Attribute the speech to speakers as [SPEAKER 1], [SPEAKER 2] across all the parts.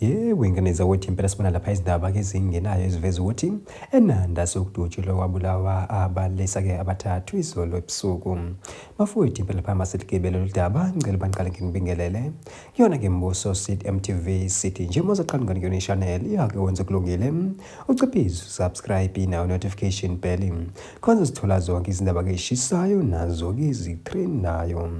[SPEAKER 1] yebo inganeza ukuthi impela sibona lapha izindaba ke zingenayo eziveza ukuthi enanda sokudutshulwa kwabulawa abalesa-ke abathathu izolo ebusuku bafowethu impela lapha maseligebe lolu daba ngicela bangiqale nginibingelele kuyona-ke mbuso sit mtv city nje mozaqhamukani kuyona ishanel iyake wenze kulungile Uciphize usubscribe nawo notification bell khona uzithola zonke izindaba keshisayo nazo ke zitrendayo.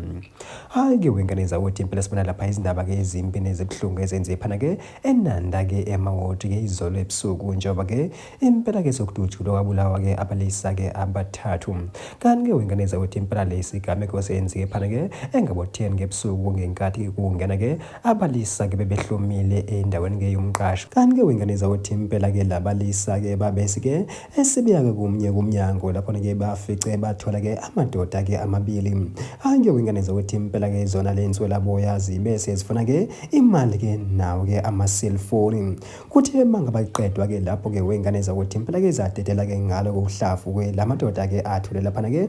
[SPEAKER 1] Hayi ke wengane zakuthi impela sibona lapha izindaba ke ezimbi nezibuhlungu ezenze phana ke eNanda ke emawodi ke izolo ebusuku njengoba ke impela ke sokudutshulwa kwabulawa ke abalisa ke abathathu. Kanti ke wengane zakuthi impela lesi gameko senzike phana ke engabo 10 ngebusuku ngenkathi kungena ke Abalisa ke bebehlomile endaweni ke yomqasho. Kanti ke wengane zawothi impela ke labalisa ke babesi ke esibiya ke kumnye kumnyango lapho ke bafice bathola ke amadoda ke amabili. Hayi ke wengane zawothi impela ke zona lenswela boya zibe sezifuna ke imali ke nawo ke ama cellphone. Kuthi emanga baqedwa ke lapho ke wengane zawothi impela ke zadedela ke ngalo kokuhlafu ke lamadoda ke athule lapha ke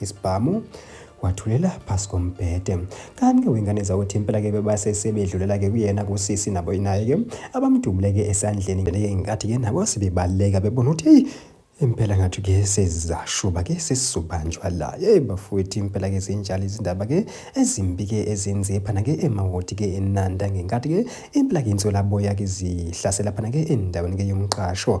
[SPEAKER 1] Isibhamu wathulela phasi kombhede kanti-ke wengane zakuthi impela-ke bebasesebedlulela-ke kuyena kusisi nabo naye-ke abamdubule-ke esandleni ngale-ke ngenkathi-ke nabo sebebaleka bebona ukuthi eyi impela ngathi-ke sezashuba-ke sesizobanjwa la yeyi bafowethu impela-ke zinjalo izindaba-ke ezimbi-ke ezenziwe phana-ke emawodi-ke enanda ngenkathi-ke impela-ke insolaboya-ke zihlasela phana-ke endaweni-ke yomqasho